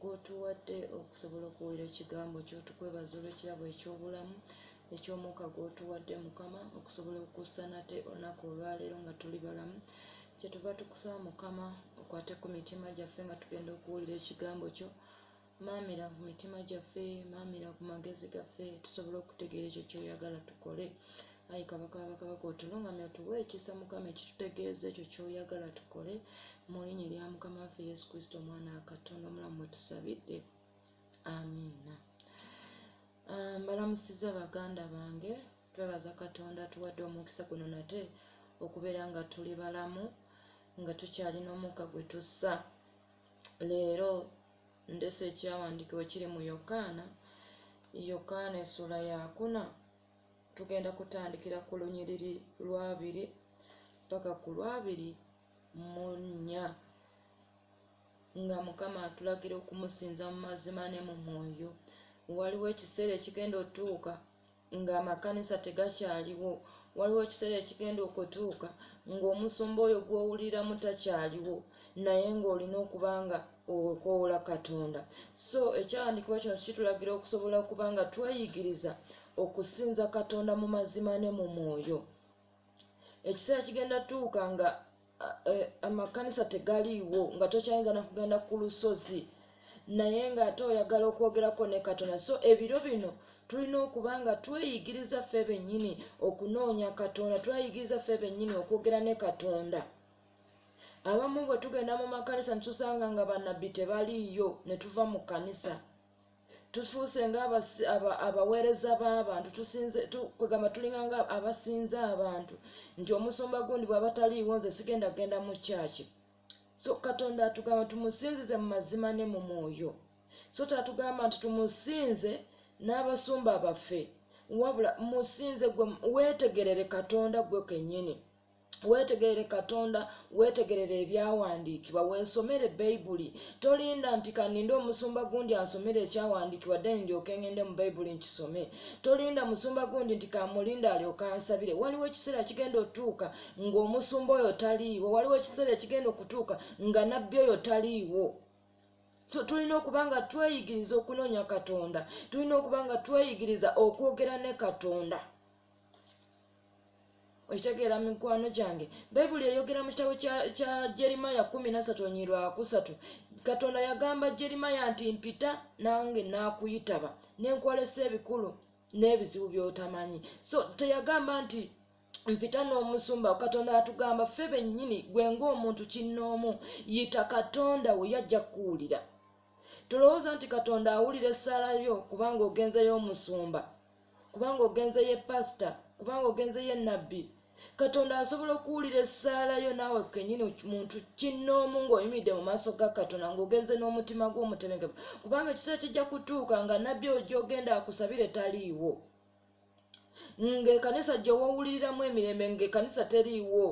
gw'otuwadde okusobola okuwulira ekigambo kyo. Tukwebaza olw'ekirabo eky'obulamu, eky'omwuka gw'otuwadde, Mukama, okusobola okussa nate olunaku olwaleero nga tuli balamu. Kyetuva tukusaba, Mukama, okwate ku mitima gyaffe nga tugenda okuwulira ekigambo kyo. Maamira ku mitima gyaffe, maamira ku magezi gaffe, tusobole okutegeera ekyo ky'oyagala tukole. Ayi kabaka w'abakabaka otulungamye otuwe ekisa mukama ekitutegeeza ekyo ky'oyagala tukole mu linnya erya mukama waffe yesu kristo omwana wa katonda omulamu mwe tusabidde amiina ah, mbalamusiza baganda bange twebaza katonda tuwadde omukisa guno nate okubeera nga tuli balamu nga tukyalina omukka gwe tussa leero ndese ekyawandiikibwa kiri mu yokaana yokaana essuula yakuna tugenda kutandikira ku lunyiriri lw'abiri paka ku lw'abiri mu nnya nga mukama atulagira okumusinza mu mazima ne mu mwoyo waliwo ekiseera ekigenda otuuka ng'amakanisa tegakyaliwo waliwo ekiseera ekigenda okutuuka ng'omusumba oyo gw'owuliramu takyaliwo naye ng'olina okuba nga okwewoola katonda so ekyawandiikibwa kino kitulagira okusobola okuba nga tweyigiriza okusinza katonda mu mazima ne mu mwoyo ekiseera kigenda tuuka nga eh, amakanisa tegaliiwo nga tokyayinza nakugenda ku lusozi naye ng'ate oyagala okwogerako ne katonda so ebiro bino tulina okuba nga tweyigiriza ffe bennyini okunoonya katonda tweyigiriza ffe bennyini okwogera ne katonda abamu bwe tugenda mu makanisa ne tusanga nga bannabbi tebaliiyo ne tuva mu kkanisa tufuuse ngaabaweereza b'abantu kwegamba tulinga nga abasinza abantu nti omusumba gundi bw'aba taliiwo nze sigenda kugenda mu kyaki so katonda atugamba tumusinzize mu mazima ne mu mwoyo so tatugamba nti tumusinze n'abasumba baffe wabula musinze gwe weetegerere katonda gwe kennyini weetegerere katonda weetegerere ebyawandiikibwa weesomere bayibuli tolinda nti kaninde omusumba gundi ansomere ekyawandiikibwa then ndyoke ngende mu bayibuli nkisome tolinda musumba gundi nti kamulinda alyoke ansabire waliwo ekiseera kigenda otuuka ng'omusumba oyo taliiwo waliwo ekiseera ekigenda okutuuka nga nabbi oyo taliiwo tulina okuba nga tweyigiriza okunoonya katonda tulina okuba nga tweyigiriza okwogera ne katonda okitegeera mikwano gyange bayibuli eyogera mu kitabo kya jeremaya kumi nasatu onyiirwakusatu katonda yagamba jeremaya nti mpita nange naakuyitaba nenkwolesa ebikulu n'ebizibu byotamanyi so teyagamba nti mpita n'omusumba katonda atugamba ffe bennyini gwe ngaomuntu kinnoomu yita katonda we yajja kukuwulira tolowooza nti katonda awulira essaala yo kubanga ogenzeyo omusumba kubanga ogenze ye pasita kubanga ogenze ye nabbi katonda asobola okuwulira essaala yo naawe kenyini muntu kinnoomu ng'oyimidde mu maaso ga katonda ng'ogenze n'omutima gw'omutebenkevu kubanga ekiseera kijja kutuuka nga nabbi oyo gy'ogenda akusabire taliiwo ng'ekanisa gy'owawuliriramu emirembe ng'ekanisa teriiwo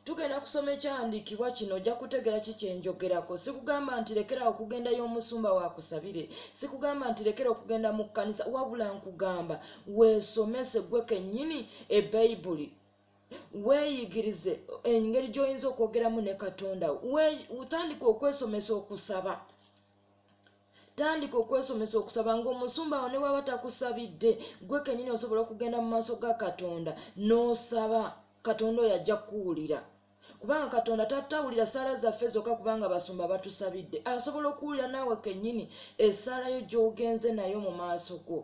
tugenda kusoma ekyawandiikibwa kino ojja kutegeera ki kyenjogerako sikugamba nti lekera okugenda y'omusumba wakusabire sikugamba nti lekera okugenda mu kkanisa wabula nkugamba weesomese gwe kennyini ebayibuli weeyigirize engeri gy'oyinza okwogeramu ne katonda utandika okwesomesa okusaba tandika okwesomesa okusaba ng'omusumba awo ne bwaba takusabidde gwe kenyini osobola okugenda mu maaso ga katonda n'osaba katonda oyo ajja kukuwulira kubanga katonda tatawulira ssaala zaffe zokka kubanga basumba batusabidde asobola okuwulira naawe kenyini esaalayo gy'ogenze nayo mu maaso go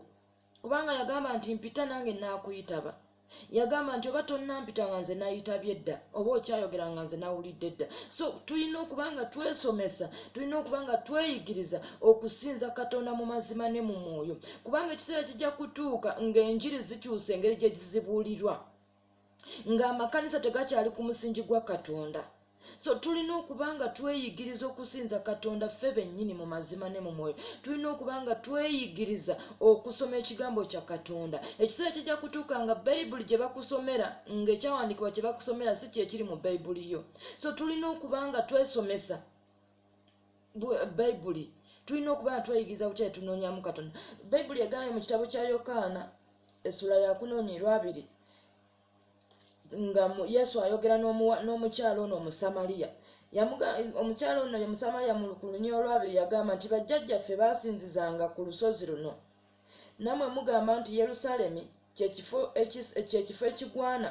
kubanga yagamba nti mpita nange naakuyitaba yagamba nti oba tonnampita nga nze nayitabye dda oba okyayogera nga nze nawulidde dda so tulina okuba nga twesomesa tulina okuba nga tweyigiriza okusinza katonda mu mazima ne mu mwoyo kubanga ekiseera kijja kutuuka ng'enjiri zikyusa engeri gye zizibuulirwa ng'amakanisa tegakyali ku musingi gwa katonda so tulina okuba nga tweyigiriza okusinza katonda ffe bennyini mu mazima ne mu mwoyo tulina okuba nga tweyigiriza okusoma ekigambo kya katonda ekiseera kijja kutuuka nga bayibuli gye bakusomera ng'ekyawandiikibwa kye bakusomera si kyekiri mu bayibuli yo so tulina okuba nga twesomesa bayibuli tulina okuba nga tweyigiriza bukyayi tunoonyamu katonda bayibuli egambye mu kitabo kya yokaana essula yakunoonya erwabiri nga yesu ayogera n'omukyalo ono omusamaliya omukyalo ono ye musamaliya mu lukulunyi olwabiri yagamba nti bajjajjaffe baasinzizanga ku lusozi luno namwe mugamba nti yerusaalemi kyekifo ekigwana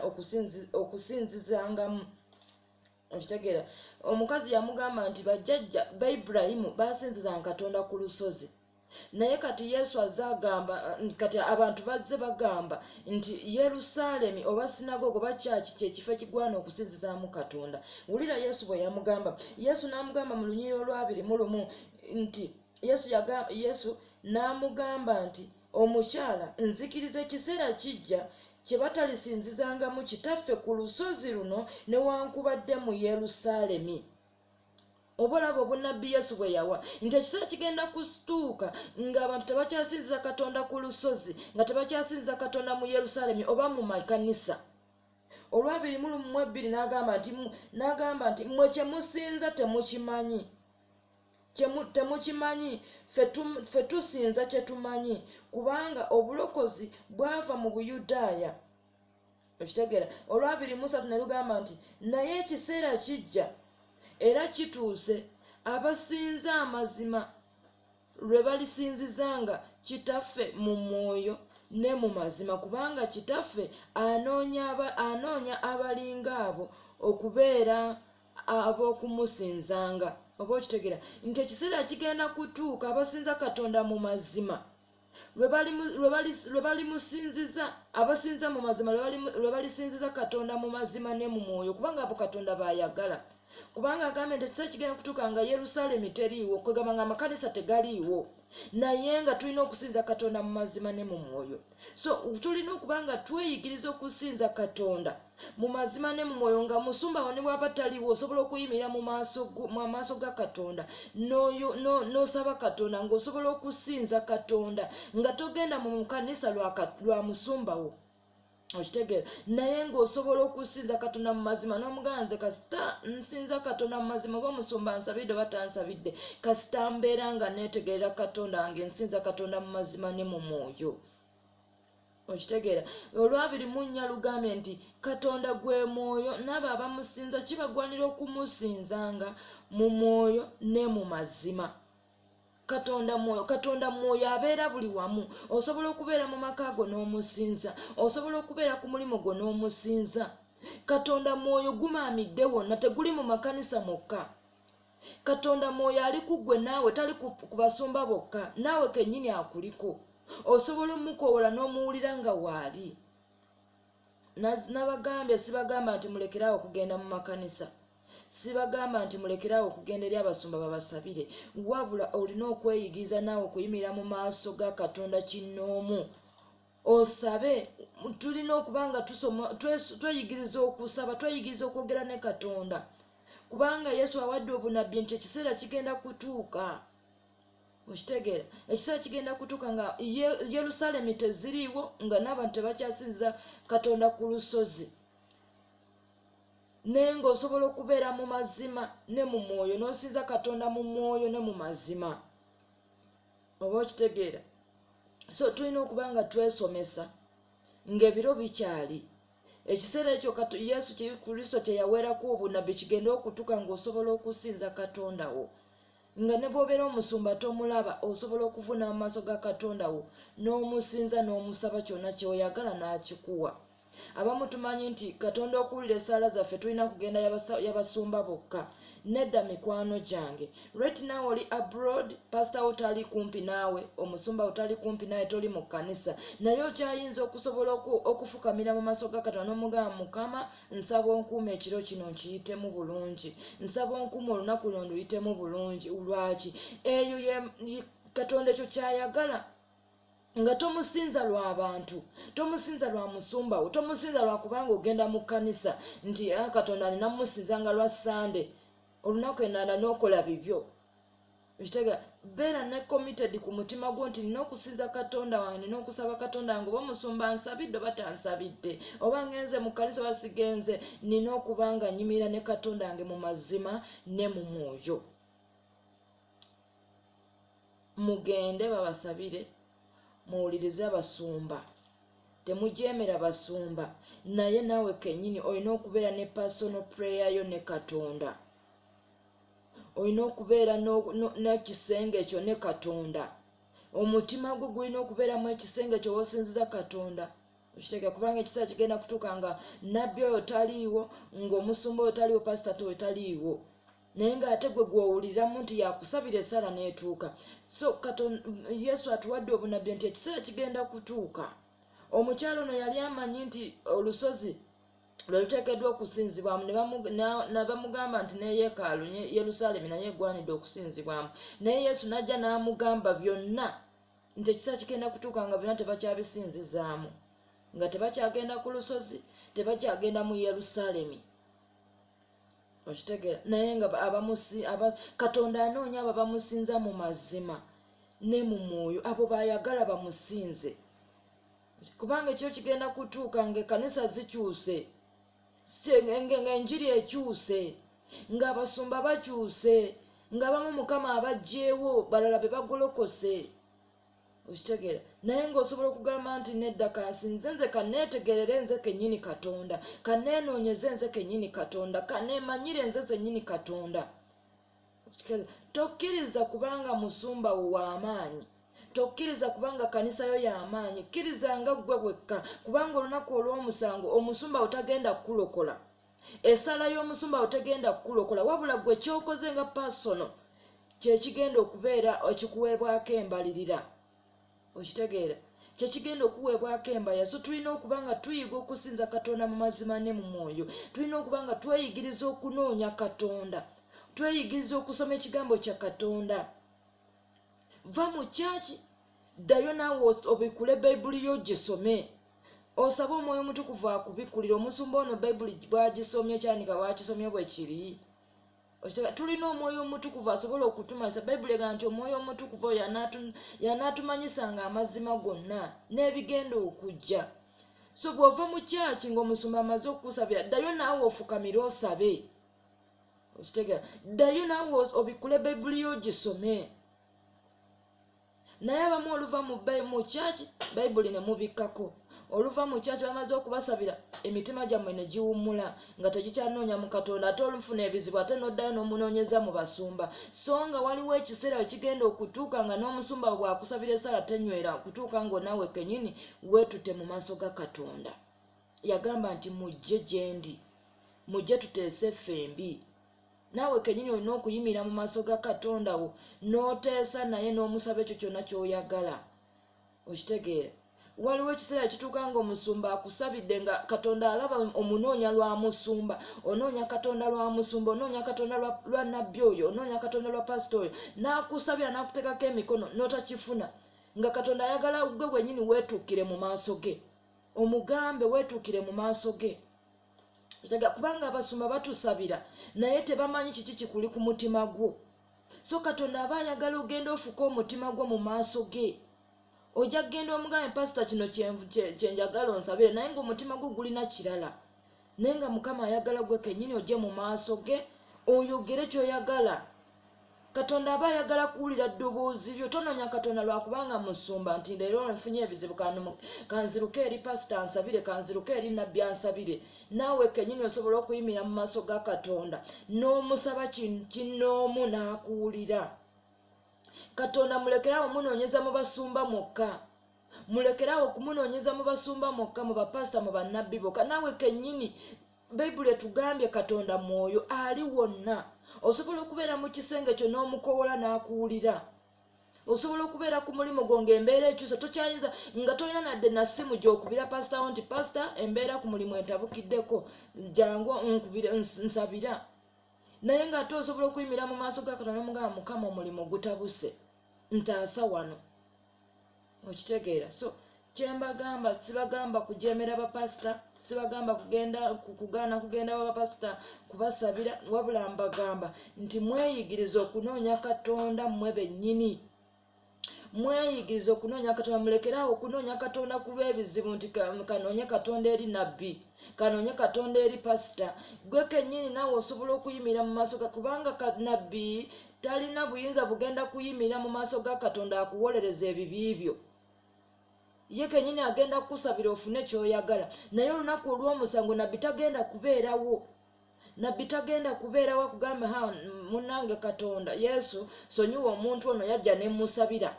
okusinzizangamu okitegera omukazi yamugamba nti bajjajja ba iburahimu basinzizanga katonda ku lusozi naye kati yesu azze agamba kati abantu bazze bagamba nti yerusaalemi oba sinagogo oba kyaki kyekifo ekigwana okusinzizaamu katonda wulira yesu bwe yamugamba yesu n'amugamba mu lunyiriro lwabiri mu lumu nti yesu yagamba yesu n'amugamba nti Omukyala, nzikiriza ekiseera kijja kye batalisinzizangamu Kitaffe ku lusozi luno newankubadde mu Yerusaalemi. Oba olaba obunnabbi Yesu bwe yawa nti ekiseera kigenda kutuuka ng'abantu tebakyasinziza Katonda ku lusozi, nga tebakyasinziza Katonda mu Yerusaalemi oba mu makanisa. Olwabiri mu ebbiri n'agamba nti n'agamba nti mmwe kye musinza temukimanyi. temukimanyi ffe tusinza kyetumanyi kubanga obulokozi bwava mu buyudaaya okitegeera olwabiri musatu ne lugamba nti naye ekiseera kijja era kituuse abasinza amazima lwe balisinzizanga kitaffe mu mwoyo ne mu mazima kubanga kitaffe anoonya abalinga abo okubeera ab'okumusinzanga oba okitegera nti ekiseera kigenda kutuuka abasinza katonda mu mazima lwe balimusinziza abasinza mu mazima lwe balisinziza katonda mu mazima ne mu mwoyo kubanga abo katonda baayagala kubanga agambye nti ekiseera kigenda kutuuka nga yerusaalemi teriiwo kwegamba nga amakanisa tegaliiwo naye nga tulina okusinza katonda mu mazima ne mu mwoyo so tulina okuba nga tweyigiriza okusinza katonda mu mazima ne mu mwoyo nga musumba wo ne bwaba taliwo osobola okuyimirira mu maaso ga katonda n'osaba katonda ng'osobola okusinza katonda nga togenda mu kanisa lwa musumba wo okitegeera naye ng'osobola okusinza katonda mu mazima n'omugamba nze kasita nsinza katonda mu mazima oba omusumba nsabidde oba tansabidde kasita mbeera nga neetegerera katonda wange nsinza katonda mu mazima ne mu mwoyo okitegeera olwabiri mu nnya lugambye nti katonda gwe mwoyo naabo abamusinza kibagwanira okumusinzanga mu mwoyo ne mu mazima katonda mwoyo katonda mwoyo abeera buli wamu osobola okubeera mu maka go n'omusinza osobola okubeera ku mulimu gwo n'omusinza katonda mwoyo gumaamidde wonna teguli mu makanisa mokka katonda mwoyo ali ku ggwe naawe tali ku basumba bokka naawe kennyini akuliko osobola omukoowola n'omuwulira nga waali nabagambye sibagamba nti mulekerawo okugenda mu makanisa sibagamba nti mulekerawo okugenda eri abasumba babasabire wabula olina okweyigiriza naawe okuyimirira mu maaso ga katonda kinnoomu osabe tulina okuba nga tusoma tweyigiriza okusaba tweyigiriza okwogera ne katonda kubanga yesu awadde obunabbi nti ekiseera kigenda kutuuka okitegeera ekiseera kigenda kutuuka nga yerusalemi teziriiwo nga n'abantu tebakyasinza katonda ku lusozi naye ng'osobola okubeera mu mazima ne mu mwoyo n'osinza katonda mu mwoyo ne mu mazima oba okitegeera so tulina okuba nga twesomesa ng'ebiro bikyali ekiseera ekyo yesu kristo kye yaweerako obunabbi kigenda okutuuka ng'osobola okusinza katonda wo nga ne bw'obeera omusumba tomulaba osobola okuvuna amaaso ga katonda wo n'omusinza n'omusaba kyonna kyoyagala n'akikuwa abamu tumanyi nti katonda okuwulira essaala zaffe tulina kugenda yabasumba bokka nedda mikwano gyange right now oli abroad pasita wo tali kumpi naawe omusumba wo tali kumpi naawe toli mu kkanisa naye okyayinza okusobola okufukamira mu maaso ga katonda n'omugamba mukama nsaba onkuuma ekiro kino nkiyitemu bulungi nsaba onkuuma olunaku luno nduyitemu bulungi lwaki eyo katonda ekyo kyayagala nga tomusinza lwa bantu tomusinza lwa musumba wo tomusinza lwa kubanga ogenda mu kkanisa nti ah, katonda nina musinza nga lwa sande olunaku enanda n'okola bibyo Okitegeera? Beera ne committed ku mutima gwo nti nina okusinza Katonda wange, nina okusaba Katonda wange oba omusumba ansabidde oba tansabidde, oba ngenze mu kkanisa oba sigenze, nina okuba nga nyimirira ne Katonda wange mu mazima ne mu mwoyo. Mugende babasabire, muwulirize abasumba. Temujeemera basumba, naye naawe kennyini olina okubeera ne personal prayer yo ne Katonda. olina okubeera nekisenge ekyo ne katonda omutima gwo gulina okubeeramu ekisenge ekyo wosinziza katonda okiteke kubanga ekiseera kigenda kutuuka nga nabbi oyo taliiwo ngaomusumba oyo taliiwo pasitata oyo taliiwo naye ngaate gwe gwowuliramu nti yakusabira esaala neetuuka so katon yesu atuwadde obunabbi nti ekiseera kigenda kutuuka omukyalo ono yali amanyi nti olusozi lwe luteekeddwa okusinzibwamu nabamugamba nti ne yeekaalu yerusaalemi naye egwanidde okusinzibwamu naye yesu n'ajja n'amugamba byonna nti ekisa kigenda kutuuka nga byonna tebakyabisinzizaamu nga tebakyagenda ku lusozi tebakyagenda mu yerusaalemi okitegeera naye nga katonda anoonya abo bamusinza mu mazima ne mu mwoyo abo bayagala bamusinze kubanga ekyo kigenda kutuuka nga ekanisa zikyuse ngaenjiri ekyuse ng'abasumba bakyuse ng'abamu mukama abajjeewo balala be bagolokose okitegeera naye ng'osobola okugamba nti nedda kansinze nze kaneetegerere nze kennyini katonda kaneenoonyeze nze kennyini katonda kaneemanyire nze zennyini katonda tokkiriza kubanga musumba wo w'amaanyi tokkiriza kubanga kanisa yo y'amaanyi kkiriza nga ggwe wekka kubanga olunaku olw'omusango omusumba wo tagenda kukulokola esaala y'omusumba wo tegenda kukulokola wabula ggwe kyokoze nga pasono kyekigenda okubeera ekikuweebwako embalirira okitegeera kyekigenda okuweebwako embaya so tulina okuba nga tuyiga okusinza katonda mu mazima ne mu mwoyo tulina okuba nga tweyigiriza okunoonya katonda tweyigiriza okusoma ekigambo kya katonda va mu kyaki ddayo naawe obikule bayibuli yo gisome osaba omwoyo omutukuvu akubikulira omusumba ono bayibuli bwagisomye kyanika bwakisomye bwe kiri tulina omwoyo omutukuvu asobola okutumanyisa bayibuli egamba nti omwoyo omutukuvu oyo yanaatumanyisanga amazima gonna n'ebigenda okujja so bw'ova mu kyaki ng'omusumba amaze okukusabira ddayo naawe ofukamire osabe okitegera ddayo naawe obikkule bayibuli yo ogisome naye abamu oluva mu kyaki bayibuli ne mubikkako oluva mu kyaki bamaze okubasabira emitima gyammwe ne giwummula nga tegikyanoonya mu katonda ate olufuna ebizibu ate n'oddayo n'omunoonyeza mu basumba so nga waliwo ekiseera we kigenda okutuuka nga n'omusumba we bwakusabira esaala tenywera okutuuka ng'onaawe kenyini weetute mu maaso ga katonda yagamba nti mujje gyendi mujje tuteese ffembi naawe kennyini olina okuyimirira mu maaso ga katonda wo n'oteesa naye n'omusaba ekyo kyonna ky'oyagala okitegeera waliwo ekiseera kituuka nga omusumba akusabidde nga katonda alaba omunoonya lwa musumba onoonya katonda lwa musumba onoonya katonda lwa nabbi oyo onoonya katonda lwa pasita oyo n'akusabira n'akuteekako emikono n'otakifuna nga katonda ayagala gwe gwenyini weetuukire mu maaso ge omugambe weetuukire mu maaso ge tega kubanga abasumba batusabira naye tebamanyi kiki kikuli ku mutima gwo so katonda aba ayagala ogenda ofuka omutima gwo mu maaso ge ojja kugenda omugambe pasita kino kyenjagala onsabire naye nga omutima gwo gulina kirala naye nga mukama ayagala gwe kenyini ojje mu maaso ge oyogere kyoyagala katonda aba ayagala kuwulira ddoboozi lyo tononya katonda lwakubanga musumba nti leero nfunye ebizibu kanziruke eri pasita ansabire kanziruke eri nabbi ansabire naawe kenyini osobola okuyimira mu maaso ga katonda n'omusaba kinnoomu n'akuwulira katonda mulekerawo munoonyeza mu basumba mwokka mulekerawo okumunoonyeza mu basumba mwokka mu bapasita mu bannabbi boka naawe kenyini bayibuli etugambye katonda mwoyo ali wonna osobola okubeera mu kisenge kyo n'omukowola n'akuwulira osobola okubeera ku mulimu gwo ngaembeera ekyusa tokyayinza nga tolina nadde nasimu gyokubira pasitawo nti pasita embeera ku mulimu entabukiddeko jangu nkubire nsabira naye nga ate osobola okuyimira mu maaso ga katonda nomugamba mukama omulimu gutabuse ntaasa wano okitegeera so kyembagamba sibagamba kujemera bapasita sibagamba kugenda kugaana kugenda babapasita kubasabira wabula mbagamba nti mweyigiriza okunoonya katonda mmwe bennyini mweyigiriza okunoonya katonda mulekere awo okunoonya katonda ku lw'ebizibu nti kanoonye katonda eri nabbi kanoonye katonda eri pasita gwe kennyini naawe osobola okuyimirira mu maaso ga kubanga nabbi talina buyinza bugenda kuyimirira mu maaso ga katonda akuwolereza ebibi byo ye kenyini agenda kukusabira ofune kyoyagala naye olunaku olw'omusango nabbi tagenda kubeerawo nabbi tagenda kubeerawo akugamba ha munange katonda yesu sonyiwa omuntu ono yajja nemusabira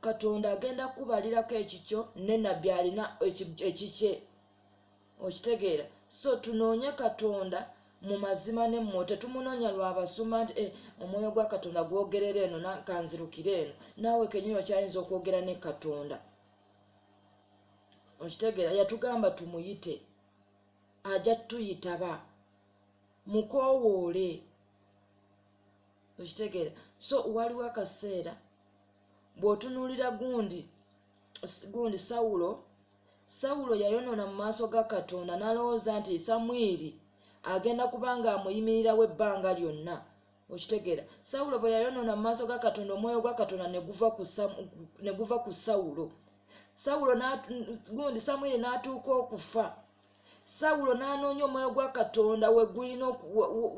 katonda agenda kukubalirako ekikyo ne nabbi alina ekikye okitegeera so tunoonye katonda mu mazima ne mmwe tetumunoonya lwa basuma nti eh, omwoyo gwa katonda gwogerera eno kanzirukire eno naawe kenyini okyayinza okwogera ne katonda okitegeera yatugamba tumuyite ajja tuyitaba mukoowoole okitegeera so waliwo akaseera bw'otunuulira gundi gundi sawulo sawulo yayonoona mu maaso ga katonda n'alowooza nti samwiri agenda kuba nga amuyimirirawo ebbanga lyonna okitegeera sawulo bwe yayonoona mu maaso ga katonda omwoyo gwa katonda ne guva ku sawulo sawulo gundi samwiri n'atuuka okufa sawulo n'anoonya omwoyo gwa katonda wegulina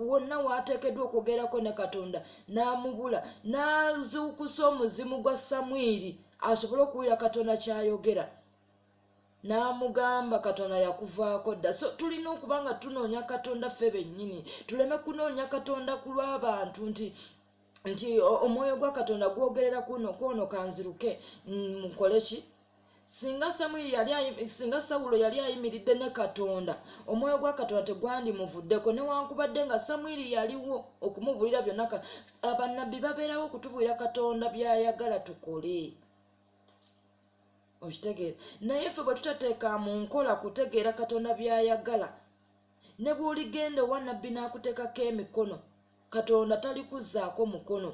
wonna waateekeddwa okwogerako ne katonda n'amubula n'azuukusa omuzimu gwa samwiri asobole okuwulira katonda ky'ayogera n'amugamba katonda yakuvaako dda so tulina okuba nga tunoonya katonda ffe bennyini tuleme kunoonya katonda ku lw'abantu nti nti omwoyo gwa katonda gwogerera kuno kwono kanziruke mukole ki singa samwiri yali singa sawulo yali ayimiridde ne katonda omwoyo gwa katonda tegwandimuvuddeko newankubadde nga samwiri yaliwo okumubuulira byonna abannabbi babeerawo okutubuulira katonda byayagala tukole okitegeera naye ffe bwe tutateeka mu nkola kutegeera katonda byayagala ne bw'oligenda owa nabbi n'akuteekako emikono katonda talikuzzaako mukono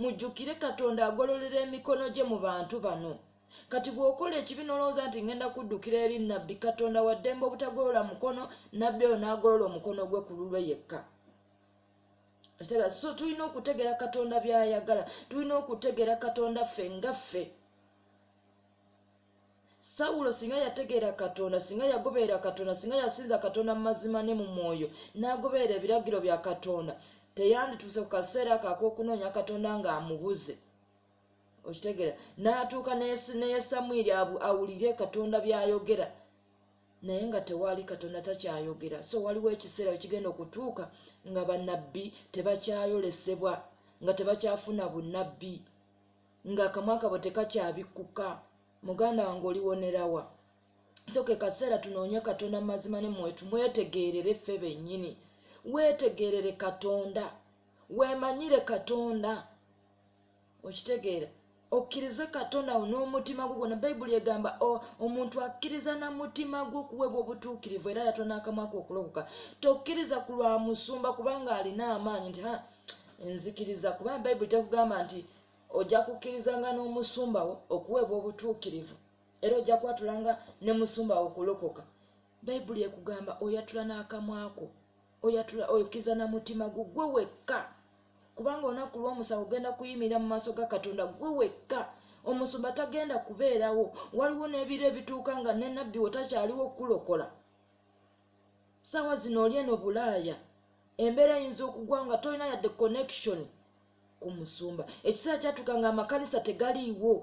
mujjukire katonda agololera emikono gye mu bantu bano kati bw'okola ekibi n'olowooza nti ngenda kuddukira eri nabbi katonda waddembe obutagolola mukono nabbi oyo n'agolola omukono gwe ku lulwe yekka so tulina okutegeera katonda by'ayagala tulina okutegeera katonda ffe nga ffe sawulo singa yategeera katonda singa yagoberera katonda singa yasinza katonda mu mazima ne mu mwoyo n'agoberera ebiragiro bya katonda teyandituuse ku kaseera kak'okunoonya katonda ng'amubuze okitegeera n'atuuka neye samwiri awulire katonda by'ayogera naye nga tewaali katonda takyayogera so waliwo ekiseera wekigenda okutuuka nga banabbi tebakyayolesebwa nga tebakyafuna bunabbi nga akamwa kabo tekakyabikkuka muganda wange oliwonerawa so ke kaseera tunoonye katonda mu mazima ne mwoyo tumwetegeerere ffe bennyini weetegeerere katonda weemanyire katonda okitegeera okkirize katonda wo n'omutima gwo gwona bayibuli egamba omuntu akkiriza na mutima gwo okuweebwa obutuukirivu era yatona akamwako okulokoka tokkiriza ku lwa musumba kubanga alina amaanyi nti nzikiriza kubanga bayibuli tekugamba nti ojja kukkirizanga n'omusumbawo okuweebwa obutuukirivu era ojja kwatulanga ne musumbawo okulokoka bayibuli ekugamba oyatula n'akamwako oyatula okkiriza na mutima gwo gwe wekka kubanga olunaku lw'omusango ogenda kuyimirira mu maaso ga katonda gwe wekka omusumba tagenda kubeerawo waliwo n'ebiro ebituuka nga ne nabbi wo takyaliwo okukulokola saawa zino oli eno bulaaya embeera eyinza okugwa nga tolina yadde connection ku musumba ekiseera kyatuuka nga amakanisa tegaliiwo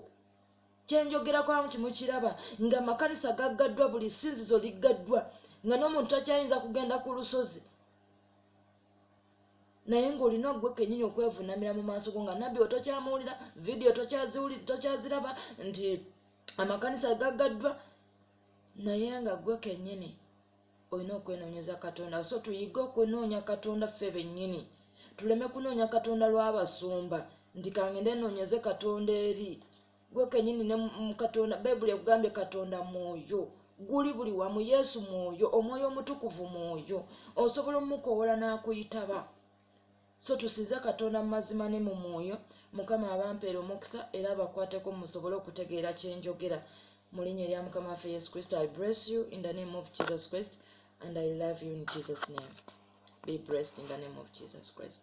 kyenjogerako amu kimukiraba nga amakanisa gaggaddwa buli sinzizo liggaddwa nga n'omuntu takyayinza kugenda ku lusozi naye ng'olina ogwe kenyini okwevunamira mu maaso go nga nabbi we tokyamuwulira vidiyo tokyaziraba nti amakanisa gaggaddwa naye nga gwe kenyini olina okwenoonyeza katonda so tuyige okunoonya katonda ffe bennyini tuleme kunoonya katonda lw'abasumba nti kangende noonyeze katonda eri gwe kenyini ne katonda bayibuli ekugambye katonda mwoyo guli buli wamu yesu mwoyo omwoyo omutukuvu mwoyo osobola omukoowola n'akuyitaba so tusinze katonda mu mazima ne mu mwoyo mukama abampeera omukisa era abakwateko musobole okutegeera kyenjogera mu linnya erya mukama waffe yesu kristo i bless you in the name of jesus christ and i love you in jesus name be blessed in the name of jesus christ